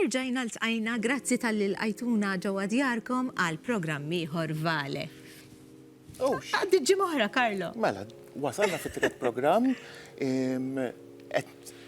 Erġajna ltqajna grazzi tal-li lqajtuna ġewwa djarkom għal programm ieħor Vale. Għaddiet ġimgħa oħra, Carlo. Mela, wasalna fit-tielet programm.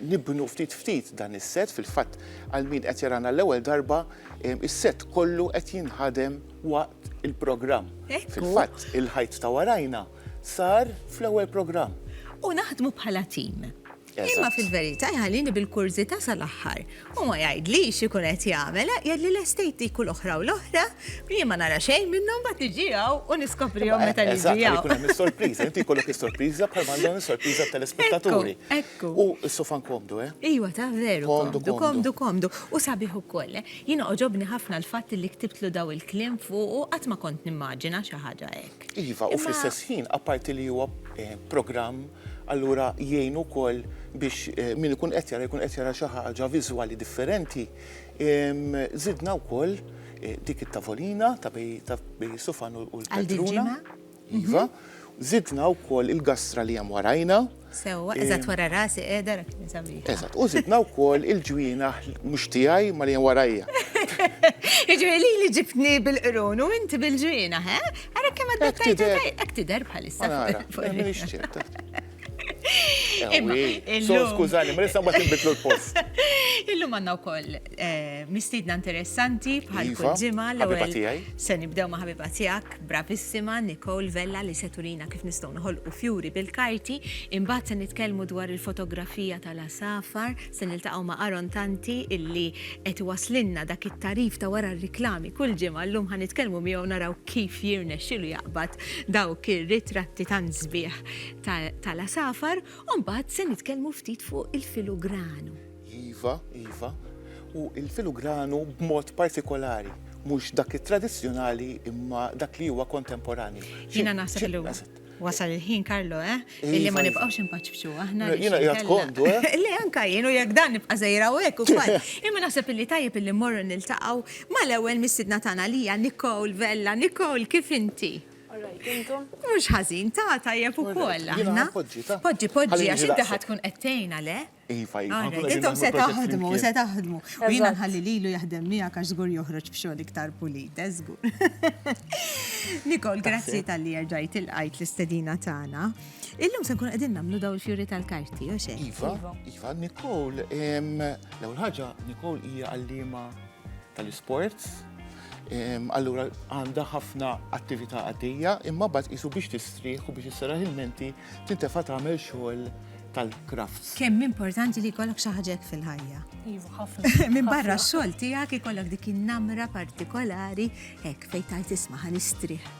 nibnu ftit ftit dan is-sett, fil-fatt għal min qed jarana għall-ewwel darba, is-sett kollu qed jinħadem waqt il-programm. Fil-fatt, il-ħajt ta' warajna sar fl-ewwel programm. U naħdmu bħala tim. Imma fil-verità jħallini bil-kurżità sal-aħħar. U ma jgħidlix x'ikun qed jagħmel, jgħidli l-estate dik u l-oħra u l-oħra, jien ma nara xejn minnhom mbagħad niġi hawn u niskoprihom meta niġi hawn. Eżatt, jkun hemm is-sorpriża, inti jkollok is-sorpriża bħal ma għandhom is-sorpriża t-telespettaturi. Ekku. U s-sofan komdu, eh? Iwa, ta' veru. Komdu, komdu. Komdu, komdu. U sabiħ ukoll, eh? Jiena għoġobni ħafna l-fatt li ktibtlu dawn il-kliem fuqu, qatt ma kont nimmaġina xi ħaġa hekk. Iva, u fl-istess ħin, apparti li huwa programm, allura jgħin ukoll biex min ikun qed jara jkun qed jara xi ħaġa viżwali differenti. Żidna wkoll dik it-tavolina ta' bejn is-sufan u l-poltruna. Għal din il-ġimgħa? Iva. Żidna wkoll il-gastra li hemm warajna. Sewwa, eżatt wara rasi qiegħda rak kien sabiħ. Eżatt, u żidna wkoll il-ġwienaħ mhux tiegħi ma li hemm warajja. Jiġri li li ġibtni bil-qrun u inti bil-ġwienaħ, eh? Ara kemm għaddettajt hekk tidher bħalissa. Imma, skużani, ma nista' mbagħad inbidlu l-post. Illum għandna wkoll Eh, mistiedna interessanti bħal iva, kull ġimgħa l-ewwel se nibdew ma' ħabiba tiegħek bravissima Nicole Vella li se turina kif nistgħu noħolqu fjuri bil-karti, imbagħad se nitkellmu dwar il-fotografija tal-asafar, se niltaqgħu ma' Aaron Tanti illi qed waslinna dak it-tarif ta' wara r-riklami kull ġimgħa llum ħa nitkellmu miegħu naraw kif jirnexxilu jaqbad dawk ir-ritratti tan sbieħ tal-asafar, u mbagħad se nitkellmu ftit fuq il-filugranu. Iva, iva. U l-filugranu b'mod partikolari, mhux dak it-tradizzjonali imma dak li huwa kontemporanju. Jiena naħseb li wasal il-ħin Karlo, eh? Illi ma nibqgħux impaċċu aħna. Jiena qiegħed kondu, eh? Le anka jien u jekk dan nibqa' żejra u hekk ukoll. Imma naħseb illi tajjeb illi mmorru niltaqgħu mal-ewwel mistiedna tagħna li hija Nicole Vella. Nicole, kif inti? Mhux ħażin, ta' tajjeb ukoll aħna. Poġġi, poġġi, għax inti ħadd tkun qed tgħinha, le? Iva, iva. Intom se taħdmu, se taħdmu. U jina nħalli lilu jaħdem miegħek għax żgur joħroġ f'xogħol iktar pulit, eh, żgur. Nikol, grazzi tal-li jerġajt il-qajt l-istedina tagħna. Illum se nkun qegħdin nagħmlu daw il-fjuri tal-karti, u xe? Iva, iva, iva Nikol, l-ewwel ħaġa Nikol hija għallima tal-isports. Allura għandha ħafna attività għaddejja, imma bad isu biex tistrieħ u biex isseraħ il-menti tintefa' tagħmel xogħol tal-crafts. Kemm importanti li jkollok xi ħaġa hekk fil-ħajja. Iva, ħafna. Minn barra x-xogħol tiegħek ikollok dik in-namra partikolari hekk fejn tajt isma' ħanistrih.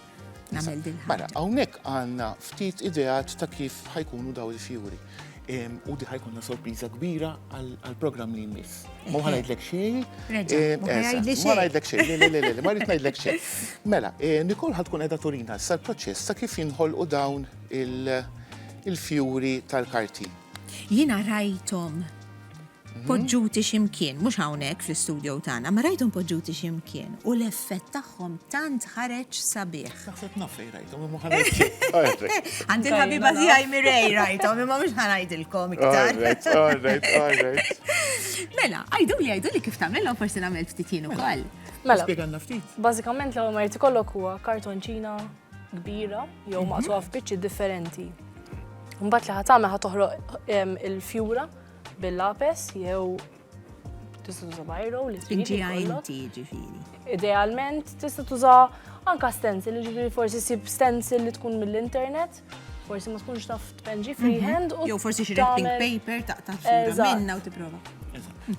Nagħmel din. Mela, hawnhekk għandna ftit ideat ta' kif ħajkunu daw il-fjuri. U di ħajkunna sorpriża kbira għal-programm li jmiss. Ma ħanajdlek xejn. Ma ħanajdlek xejn. Le, le, le, ma rrid ngħidlek xejn. Mela, Nikol ħadkun qiegħda turina sa l-proċess ta' kif jinħolqu dawn il- il-fjuri tal-karti. Jiena rajthom mhm. poġġuti ximkien, mhux hawnhekk fl-istudjo tagħna, ma rajthom poġġuti ximkien u l-effett tagħhom tant ħareġ sabiħ. Naħseb naf fejn rajthom imma Għandi l-ħabiba tiegħi Mirej rajthom imma mhux ħanajdilkom iktar. Mela, għajdu li għajdu li kif tagħmilhom forsi nagħmel ftit jien ukoll. Mela. Spjegalna ftit. Bażikament l-ewwel ma jrid ikollok huwa kartonċina kbira jew mhm. maqtuha f'biċċi differenti. Mbagħad li ħatamel ħa toħroq il-fjura bil-lapes jew tista' tuża bajro li trid. ġifieri. Idealment tista' tuża anka stencil, ġifieri forsi sib stencil li tkun mill-internet forsi ma tkunx taf tpenġi mhm. freehand u. Jew forsi xi wrapping paper taqta' sura minna u tipprova.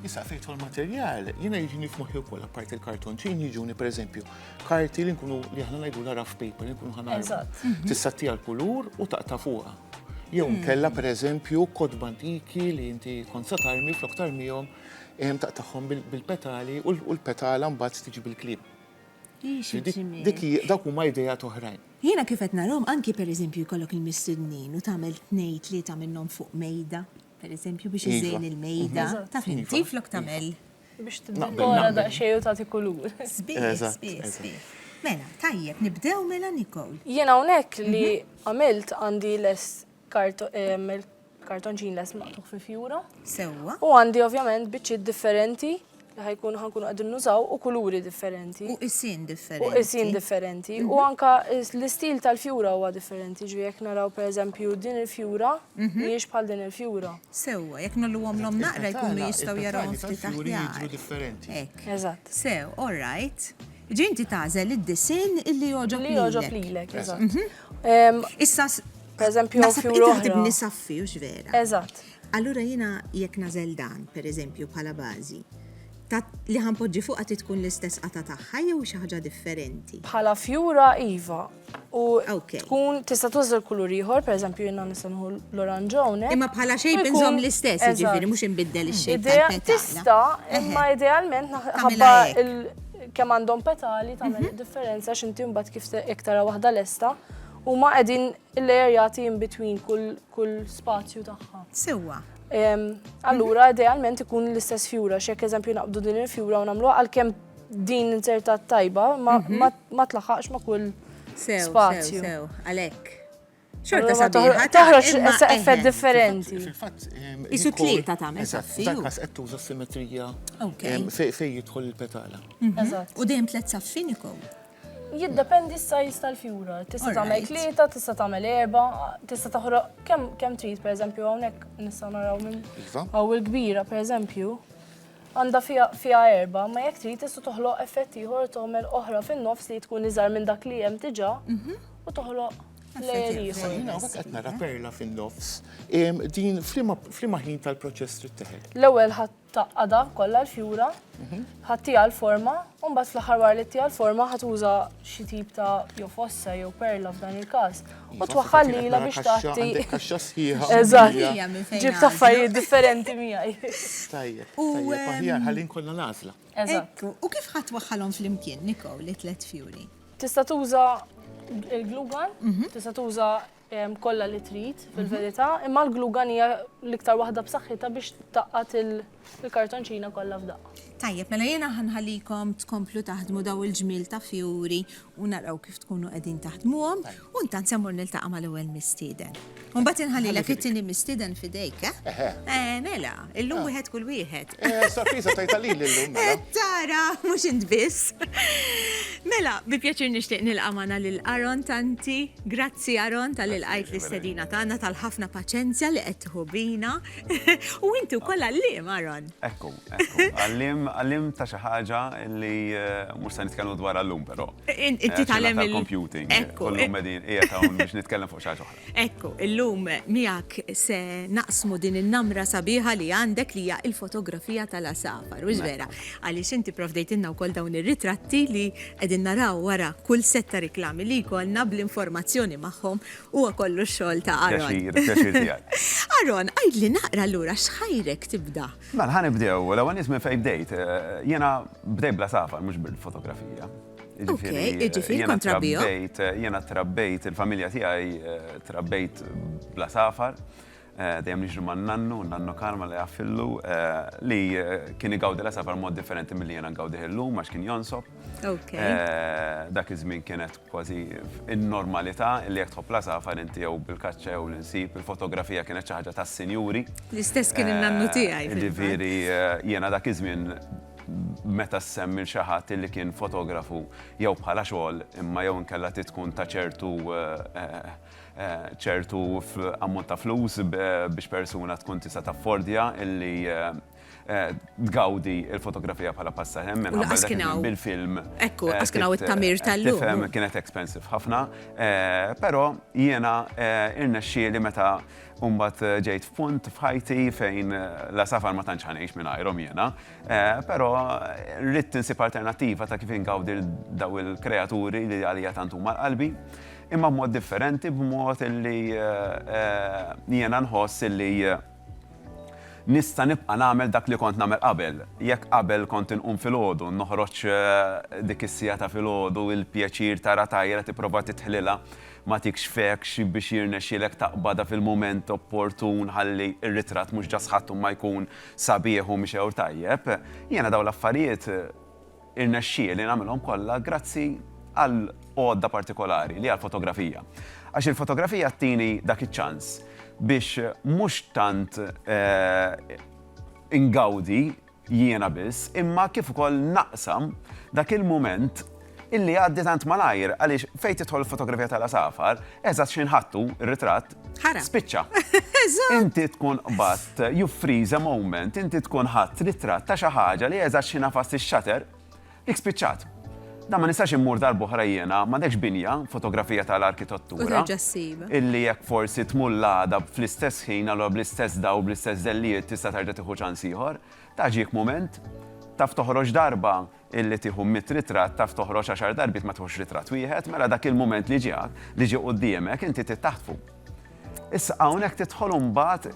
Issa fejtu l-materjal, jiena jiġini f'moħħi wkoll apparti l-kartonċin jiġuni pereżempju karti li nkunu li aħna ngħidu la rough paper li nkunu ħana. Eżatt. Tista' tija l-kulur u taqta' fuqha. Jew hmm. kella pereżempju kodba antiki li inti kont sa tarmi flok tarmihom ehm, taqtagħhom bil-petali u l-petala mbagħad tiġi bil-klib. Dik dak huma idea toħrajn. Jiena kif qed narhom anki pereżempju jkollok il-mistednin u tagħmel tnejn tlieta minnhom fuq mejda, pereżempju biex iżejn iva. il-mejda, mhm. ta' finti flok tagħmel Biex t-dikora daqxej u tagħti kulur. Sbieħ, sbieħ, sbieħ. Mela, tajjeb, nibdew mela Nicole. Jien hawnhekk li mhm. għamilt għandi les kartonċin les maqtuħ fi fjura. Sewwa. U għandi ovvjament biċċiet differenti li ħajkun ħankun għadin nużaw u kuluri differenti. U isin differenti. U isin differenti. U mhm. anka l-istil tal-fjura huwa differenti. Ġvi jek naraw per eżempju din il-fjura, mhm. miex bħal din il-fjura. Sewwa, jekk ngħolluhomlhom naqra jkunu jistgħu jarawhom ftit aħjar. Hekk. Eżatt. Sew, all right. Ġifieri inti tagħżel id-disinn illi jogħġob lilek. Li jogħġob lilek, eżatt. Issa pereżempju hawn f'jum l-oħra. Naħseb inti taħdibni saffi, hux vera? Eżatt. Allura jiena jekk nagħżel dan, pereżempju, bħala bażi, li ħa npoġġi fuqha trid tkun l-istess qatgħa tagħha jew xi ħaġa differenti? Bħala fjura, iva. u tkun tista' tuża l-kulur ieħor, pereżempju jiena nista' nħu l-oranġ hawnhekk. Imma bħala xejn inżomm l-istess, jiġifieri mhux inbiddel ix-xejn. Tista' imma idealment ħabba kemm għandhom petali tagħmel mhm. differenza x'inti mbagħad kif iktar waħda lesta u ma qegħdin il-lejer jagħti in between kull spazju tagħha. Sewwa. Allura idealment ikun l-istess fjura, x'jekk eżempju naqbdu din il-fjura u nagħmluha għalkemm Din inzertat tajba ma mhm. tlaħħaqx ma kull spazju. Sew, għalhekk. Xorta sabiħa. Taħroġ effett differenti. Isu tlieta tagħmel. Eżatt, dak kas qed tuża simetrija fejn jidħol il-petala. Mhm. U dejjem tliet saffini kow. Jiddependi s-sajz tal-fjura. Tista' tagħmel tlieta, tista' tagħmel erba, tista' taħroq kemm kemm trid pereżempju hawnhekk nista' naraw minn iva. hawn il-kbira pereżempju. Għandha fiha fiha erba, ma jekk trid tista' toħloq effett ieħor u tagħmel oħra fin-nofs li tkun iżgħar minn dak li hemm diġà mhm. u toħloq layer ieħor. Jiena hawnhekk qed nara perla fin-nofs. Din f'liema ħin tal-proċess trid teħed. L-ewwel ħadd taqqada kollha l-fjura, mhm. ħattija l-forma, u mbagħad fl-aħħar wara li ttija l-forma ħadd uża xi tip ta' jew fossa jew perla f'dan il-każ u twaħħal lila biex tagħti. Kaxxa sħiħa. Eżatt. Ġib taffarijiet differenti miegħi. Tajjeb. U aħjar ħallin kollha l-għażla. Eżatt. U kif ħadd waħħalhom flimkien, Niko, li tlet fjuri? Tista' tuża il-glugan, mhm. tista' tuża kollha li trid fil-verità, mhm. imma l-glugan hija l-iktar waħda b'saħħitha biex taqgħad il- Il-kartonċina kollha f'daqqa. Tajjeb, mela jiena ħa nħallikom tkomplu taħdmu dawn il-ġmiel ta' fjuri u naraw kif tkunu qegħdin taħdmuhom u intant se mmur niltaqa' mal-ewwel mistieden. U mbagħad inħallilek it-tieni mistieden f'idejk, eh? Eħe. Eh, mela, illum wieħed kull wieħed. Eh, sorpriża tajtha lili llum, mela. Eh, tara, mhux int biss. Mela, bi pjaċir nixtieq nilqa' magħna lil Aron Tanti. Grazzi Aron tal-li lqajt l-istedina tagħna tal-ħafna paċenzja li qed tieħu bina. U inti u koll għallim, Aaron. Ekku, ekku. Għallim, għallim ta' xi ħaġa li eh, mhux se nitkellmu dwar għallum però. Inti eh, tagħlem il-computing. Ekku. Kollum qegħdin qiegħed hawn biex nitkellem fuq xi ħaġa oħra. Ekku, illum miegħek se naqsmu din in-namra sabiħa li għandek li hija il-fotografija tal-asafar. U vera, mela. għaliex inti provdejtilna wkoll dawn ir-ritratti li qegħdin naraw wara kull setta reklami li jkollna bl-informazzjoni magħhom Huwa kollu x-xogħol ta' Aaron. Pjaċir, il-pjaċir tiegħi. Aaron, għidli naqra allura x'ħajrek tibda? Mela, ħa nibdew, l-ewwel nies minn fejn bdejt. Jiena bdejt bla safar, mhux bil-fotografija. Ok, jiġifieri kont trabbija. Jiena trabbejt, il-familja tiegħi trabbejt bla safar. Dejjem niġri ma' nannu, nannu Karm Alla jagħfillu, li kien igawdi l-għasafar mod differenti milli jiena ngawdih illum għax kien jonsob. Dak iż-żmien kienet kważi n-normalità li jekk tħobb l-għasafar inti jew bil-kaċċa jew l-insib, il-fotografija kienet xi ħaġa tas-sinjuri. L-istess kien in-nannu tiegħi. Jiġifieri jiena dak iż-żmien meta ssemmi lil xi ħadd li kien fotografu jew bħala xogħol imma jew inkella trid tkun ta' ċertu ċertu ammont ta' flus biex persuna tkun tista' taffordja illi tgawdi l-fotografija bħala passatemp minħabba li. Lanqas kien hawn. Bil-film. Ekku, lanqas kien hawn it-tagħmir tal-lum. Tifhem, kienet expensive ħafna. Però jiena irnexxieli meta mbagħad ġejt f'punt f'ħajti fejn la safar ma tantx ħa ngħix mingħajrhom jiena, però ridt insib alternattiva ta' kif ingawdi dawn il-kreaturi li għalija tant huma l-qalbi. Imma b'mod differenti, b'mod illi jiena nħoss illi nista' nibqa' nagħmel dak li kont nagħmel qabel. Jekk qabel kont inqum filgħodu, noħroġ dik is-siegħa ta' filgħodu, il-pjaċir tara tajra, tipprova tidħlilha, ma tikx fekx biex jirnexxielek taqbadha fil-mument opportun ħalli r-ritratt mhux ġas ħadd imma jkun sabiħ u mixgħur tajjeb, jiena dawn l-affarijiet Irnexxieli nagħmilhom kollha grazzi għal għodda partikolari li hija l-fotografija. Għax il-fotografija ttini dak iċ-ċans biex mhux tant ingawdi jiena biss imma kif ukoll naqsam dak il-mument illi jgħaddi tant malajr għaliex fejn tidħol il-fotografija tal-għasafar, eżatt x'inħattu, ir-ritratt, Ħara. Spiċċa. Inti tkun qbatt, you freeze a moment, inti tkun ħadd ritratt ta' xi ħaġa li eżatt xi nafas ix-xater, dik spiċċat. Da ma nistax immur darbohra jiena, ma dekx binja, fotografija tal-arkitettura. Illi jekk forsi tmull għada fl-istess ħin, għallu bl-istess daw, bl-istess zellijiet, tista' terġa' tiħu ċans ieħor. Taġik moment, taf toħroġ darba, illi tieħu mitt ritratt taf toħroġ għaxar darbiet ma tieħux ritratt wieħed, mela dak il-mument li ġie li ġie quddiemek inti trid taħtfu. Issa hawnhekk tidħol imbagħad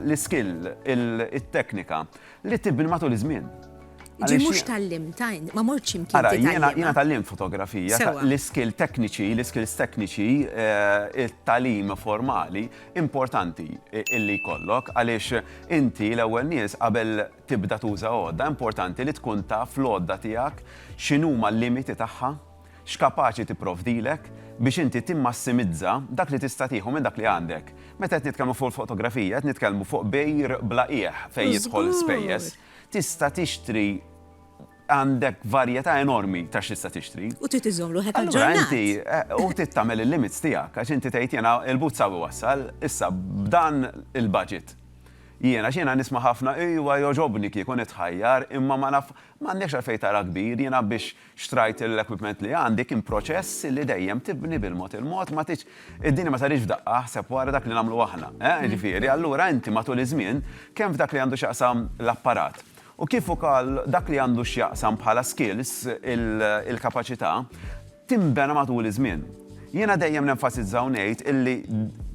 l-iskill, it-teknika li tibni matul iż-żmien. Ġi mhux tallim, tajn, ma morċi mkien. Ara, jiena tallim fotografija, l-iskill tekniċi, l-iskills tekniċi, eh, il-talim formali, importanti illi kollok, għaliex inti l-ewwel nies qabel tibda tuża għodda, importanti li tkun taf l-għodda tiegħek x'inhuma l-limiti tagħha, x'kapaċi tipprovdilek biex inti timmassimizza dak li tista' tieħu minn dak li għandek. Meta qed nitkellmu fuq il-fotografija, qed nitkellmu fuq bejgħ bla qiegħ fejn jidħol spejjeż. Tista' tixtri għandek varjetà enormi ta' x'tista' tixtri. U trid iżżomm ruħek aġġornat. Allura inti, u trid tagħmel il-limits tiegħek għax inti tgħid jiena il-but saw iwassal, issa b'dan il-budget. Jiena, għax jiena nisma' ħafna, ejwa jogħġobni kieku nitħajjar imma ma naf, m'għandekx għalfejn tara kbir, jiena biex xtrajt l-equipment li għandi kien proċess li dejjem tibni bil-mod il-mod, ma tridx, id-dinja ma saritx f'daqqa, aħseb wara dak li nagħmlu aħna, eh, jiġifieri allura inti matul iż-żmien kemm f'dak li għandu x'jaqsam l-apparat u kif ukoll dak li għandu x'jaqsam bħala skills, il-kapaċità, tinbena matul iż-żmien. Jiena dejjem nenfasizza u ngħid illi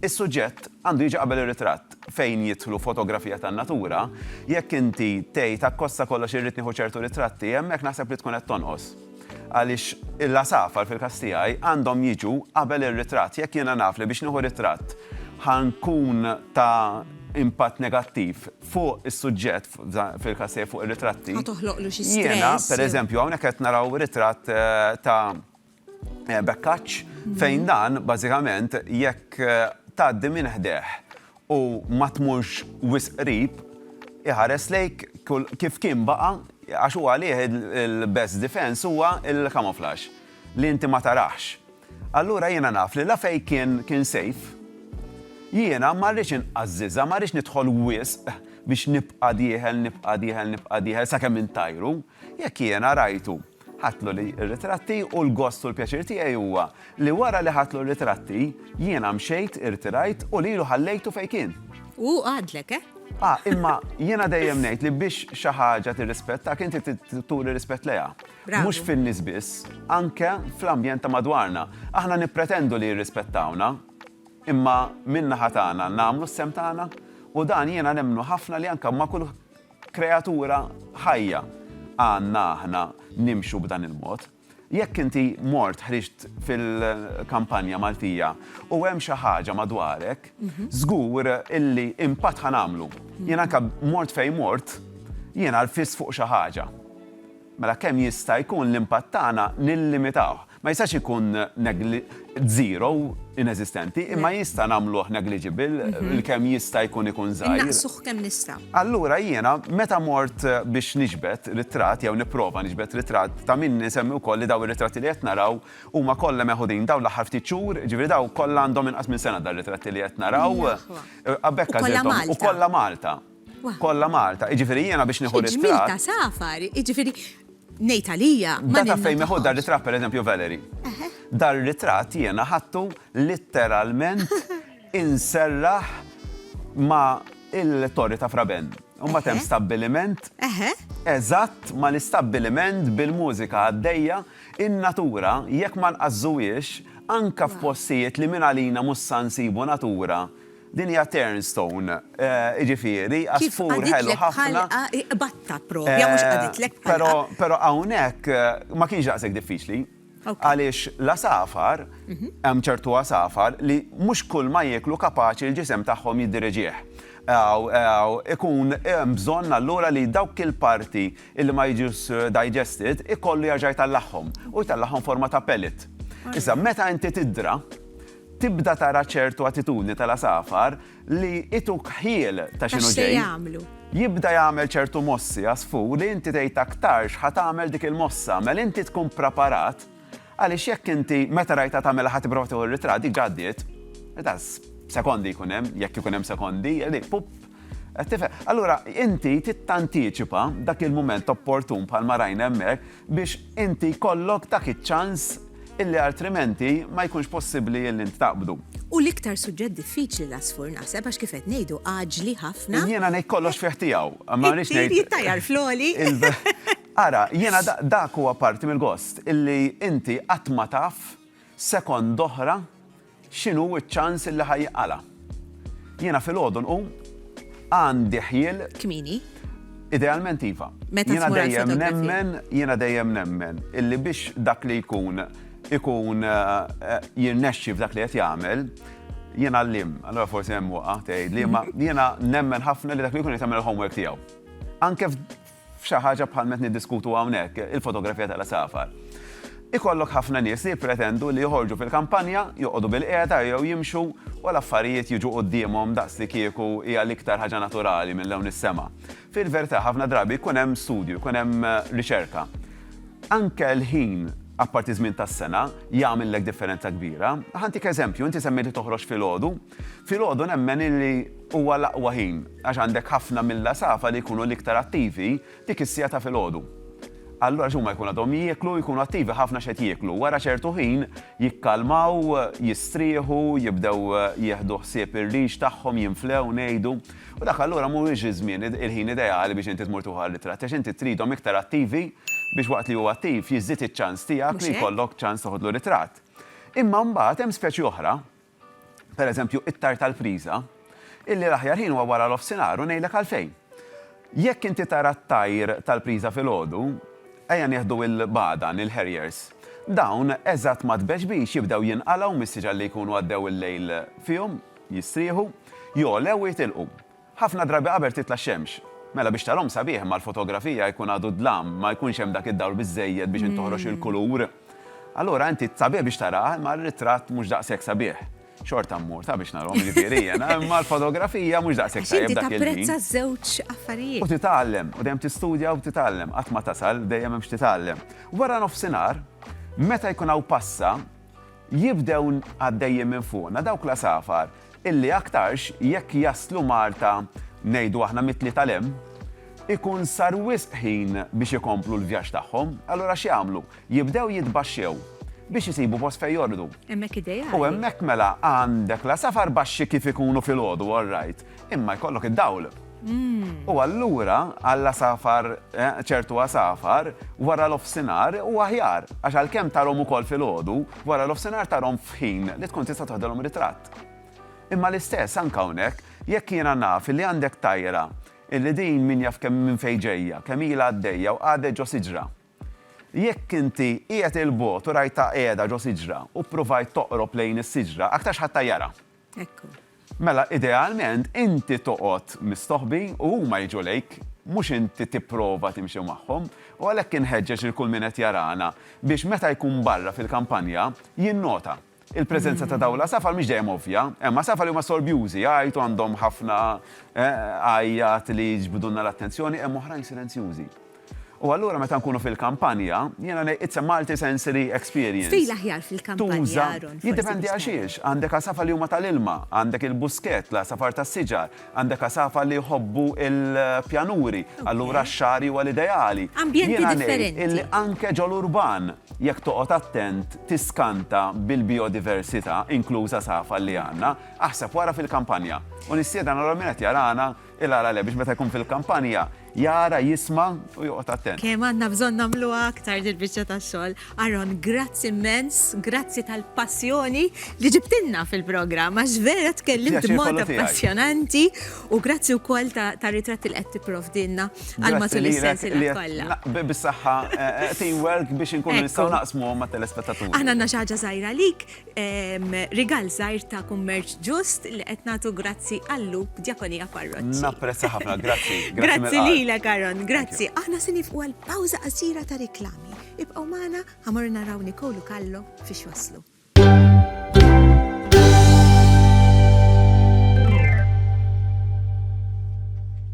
s-suġġett għandu jiġi qabel ir-ritratt, fejn jidħlu fotografija tan-natura, jekk inti tgħid akkosta kollox irrid nieħu ċertu ritratti, hemmhekk naħseb li tkun qed tonqos. Għaliex l-għasafar fil-każ tiegħi għandhom jiġu qabel ir-ritratt. Jekk jiena naf li biex nieħu ritratt ħa nkun ta' impatt negattiv fuq is-suġġett, fil-każ tiegħi fuq ir-ritratti. Ħa toħloqlu xi stress. Jiena, pereżempju, hawnhekk qed naraw ritratt eh, ta' eh, Bekkaċ mhm. fejn dan bażikament jekk eh, tgħaddi minn ħdeh u ma tmurx wisq qrib iħares lejk kif kien baqa' għax huwa għalih il-best defense huwa il-camouflage li inti ma tarax. Allura jiena naf li la fejn kien kien sejf. Jiena ma rridx inqażżiżha, ma rridx nidħol wisq biex nibqa' dieħel, nibqa' dieħel, nibqa' dieħel sakemm intajru. Jekk jiena rajtu, ħadtlu li r-ritratti u l-gost u l-pjaċir tiegħi huwa li wara li ħadtlu r-ritratti, jiena mxejt, irtirajt u lilu ħallejtu fejn kien. U hu qagħadlek, eh? Ah, imma jiena dejjem ngħid li biex xi ħaġa tirrispettak inti trid turi rispett lejha. Mhux fin-nies biss, anke fl-ambjent ta' madwarna. Aħna nippretendu li jirrispettawna, imma min-naħa tagħna nagħmlu s-sehem tagħna? U dan jiena nemmnu ħafna li anke ma' kull kreatura ħajja għandna aħna nimxu b'dan il-mod. Jekk inti mort ħriġt fil-kampanja Maltija u hemm xi ħaġa madwarek, żgur illi impatt ħa nagħmlu. Jien anke mort fejn mort, jiena rfiss fuq xi ħaġa. mela kemm jista' jkun l-impatt tagħna nillimitawh. Ma jistax ikun zero, ineżistenti, imma jista' nagħmluh negliġibil, il-kemm jista' jkun ikun żgħir. Innaqsuh kemm nista'. Allura jiena meta mort biex niġbed ritratt jew nipprova niġbed ritratt, ta' min insemmi wkoll li dawn ir-ritratti li qed naraw huma kollha meħudin dawn l-aħħar ftit xhur, jiġifieri dawn kollha għandhom inqas minn sena dar-ritratti li qed naraw. U kollha Malta. U kollha Malta. Kollha Malta, jiġifieri jiena biex nieħu ritratt. Xi ġmiel ta' safar, jiġifieri ngħid għalija. Data fejn nieħu dar ritratt pereżempju Valerie. Dar ritratt jiena ħadtu litteralment inserraħ ma' il-Torri ta' Fraben. U mbagħad hemm stabbiliment eżatt ma' l-istabbiliment bil-mużika għaddejja, in-natura jekk ma nqażżuhiex anke f'postijiet li minn għalina mhux sa nsibu natura Din hija turnstone, jiġifieri għasfur ħelu ħafna. Kif qaditlek bħalqa, iqbadtha proprja, mhux qaditlek bħalqa. Però hawnhekk ma kienx daqshekk diffiċli għaliex l-għasafar, hemm ċertu għasafar li mhux kulma jieklu kapaċi l-ġisem tagħhom jiddirigih. Ikun hemm bżonn allura li dawk il-parti li ma jiġux digested ikollu jerġa' jtallagħhom u jtallagħhom forma ta' pellet. Issa meta inti tiddra, Tibda tara ċertu attitudni tal-għasafar li ituk ħjiel ta' x'inhu ġej. Jibda jagħmel ċertu mossi għasfur li inti tgħid aktarx ħa tagħmel dik il-mossa, mela inti tkun praparat għaliex jekk inti meta rajtha tagħmilha ħa tipprova tieħu r-ritratt diġà għaddiet. Edas, sekondi jkun hemm, jekk ikun hemm sekondi, li pup. Allura, inti tittantiċipa dak il-mument opportun bħal ma rajna hemmhekk biex inti jkollok dak iċ-ċans illi artrimenti ma jkunx possibbli illi int taqbdu. U l-iktar suġġett diffiċli l-għasfur naħseb għax kif qed ngħidu għaġli ħafna. Jiena ngħid kollox fih tiegħu, ma rridx ngħid. Jittajjar floli. Ara, jiena dak huwa parti mill-gost illi inti qatt ma taf sekond oħra X'inhu ċ-ċans li ħa jqala'? Jiena filgħodu nqum, għandi ħjiel. Kmieni? Idealment iva. Meta Jiena dejjem nemmen, jiena dejjem nemmen illi biex dak li jkun ikun eh, jirnexxi f'dak li qed jagħmel, jien għallim, allora forsi hemm waqa' tgħid li ma jiena nemmen ħafna li dak li jkun jagħmel il-homework tiegħu. Anke f'xi ħaġa bħal ma qed niddiskutu hawnhekk, il-fotografija tal-għasafar. Ikollok ħafna nies li jippretendu li joħorġu fil-kampanja, joqogħdu bilqiegħda jew jimxu u l-affarijiet jiġu quddiemhom daqslikieku hija l-iktar ħaġa naturali minn lewn is-sema. Fil-verità ħafna drabi jkun hemm studju, jkun hemm riċerka. Anke l-ħin, apparti ż-żmien tas-sena, jagħmillek differenza kbira. Ħa ntik eżempju, inti semmejt li toħroġ filgħodu. Filgħodu nemmen illi huwa l-aqwa ħin għax għandek ħafna mill-għasafar li jkunu l-iktar attivi dik is-siegħa ta' filgħodu. Allura għax huma jkunu għadhom jieklu u jkunu attivi ħafna x'qed jieklu. Wara ċertu ħin jikkalmaw, jistrieħu, jibdew jieħdu ħsieb ir-riġ tagħhom, jinflew, ngħidu. U dak allura mhuwiex iż-żmien, il-ħin ideali biex inti tmur tieħu għar-ritratt għax inti tridhom iktar attivi biex waqt li hu attiv jiżdied iċ-ċans tiegħek li jkollok ċans toħodlu ritratt. Imma mbagħad hemm speċi oħra, pereżempju, it-tar tal-priża, illi l-aħjar ħin huwa wara l-offsinhar u ngħidlek għalfejn. Jekk inti tara t-tajr tal-priża filgħodu, ejja nieħdu l-bagħdan, il-harriers, dawn eżatt ma' tbeġbix jibdew jinqalgħu mis-siġar li jkunu għaddew il-lejl fihom, jistrieħu, jogħlew u jitilqu. Ħafna drabi qabel titla' x-xemx. Mela biex tarahom sabiħ imma l-fotografija jkun għadu d-dlam, ma jkunx hemm dak id-dawl biżżejjed biex int toħroġ il-kulur. Allura inti sabiħ biex taraha imma r-ritratt mhux daqshekk sabiħ. Xorta mmur ta' biex narahom jiġifieri jiena imma l-fotografija mhux daqshekk tajjeb dak il-ħin. Għax inti tapprezza ż-żewġ affarijiet. U titgħallem, u dejjem tistudja u titgħallem. Qatt ma tasal, dejjem hemm x'titgħallem. Wara nofsinhar, meta jkun hawn passa, Jibdew għaddejjin minn fuqna dawk l-għasafar illi aktarx jekk jaslu Malta ngħidu aħna mit-tlieta 'l hemm, ikun sar wisq ħin biex ikomplu l-vjaġġ tagħhom. Allura x'jagħmlu? Jibdew jitbaxxew biex isibu post fejn jorqdu. Hemmhekk ideali. U hemmhekk mela għandek l-għasafar baxxi kif ikunu filgħodu, all right. Imma jkollok id-dawl. U allura għalla safar, eh, ċertu għasafar, wara l-offsinar u aħjar, għax għal-kem tarom u kol fil-ħodu, wara l-offsinar tarom fħin li tkun tista toħdelom ritratt. Imma l-istess, anka unek, jekk jena naf li għandek tajra, illi din min jaf kemm minn fejġeja, kemm ila għaddejja u għadde ġo siġra. Jekk inti qiegħed il-bot u rajta qiegħda ġo siġra u provajt toqrob lejn is-siġra, aktarx ħadd jara. Ekku. Mela idealment inti toqgħod mistoħbi u huma jiġu lejk, mhux inti tipprova timxi magħhom. U għalhekk inħeġġeġ lil kull min qed jarana biex meta jkun barra fil-kampanja, jinnota. Il-preżenza ta' dawn l-għasafar mhix dejjem ovvja. Hemm għasafar li huma sorbjużi, jgħajtu, għandhom ħafna għajjat li jiġbdulna l-attenzjoni, hemm oħrajn silenzjużi. U allura meta nkunu fil-kampanja, jiena ngħid it's a multi-sensory experience. Tuża, jiddependi għaxiex, għandek għasafar li huma tal-ilma, għandek il-buskett, l-għasafar tas-siġar, għandek għasafar li jħobbu l-pjanuri, allura x-xagħri huwa l-ideali. Jiena ngħid illi anke ġol-urban, jekk toqgħod attent, tiskanta bil-bijodiversità, inkluż għasafar li għandna. Aħseb wara fil-kampanja. U nistieden allura min qed jarana, Il-għala le, biex meta jkun fil-kampanja, jara, jisma u joqgħod attent. Kemm għandna bżonn nagħmluha aktar dil-biċċa tax-xogħol. Aron, grazzi immens, grazzi tal-passjoni li ġibtilna fil-programm għax vera tkellimt b'mod appassjonanti u grazzi wkoll ta' ritratti li qed tipprovdilna għal matul is-sensiela kollha. Bis-saħħa eh, eh, teamwork biex inkunu nistgħu naqsmu ma' telespettaturi. Aħna għandna xi ħaġa żgħira lik, Rigal żgħir ta' kummerċ ġust li qed nagħtu grazzi għal-Lu Djakonija Parroċċi. Napprezza ħafna, grazzi. Grazzi lilek Aaron, grazzi. Aħna se nifqu għal pawża qasira ta' riklami. Ibqgħu magħna ħa mmorru naraw Nicole u Kallo fiex waslu.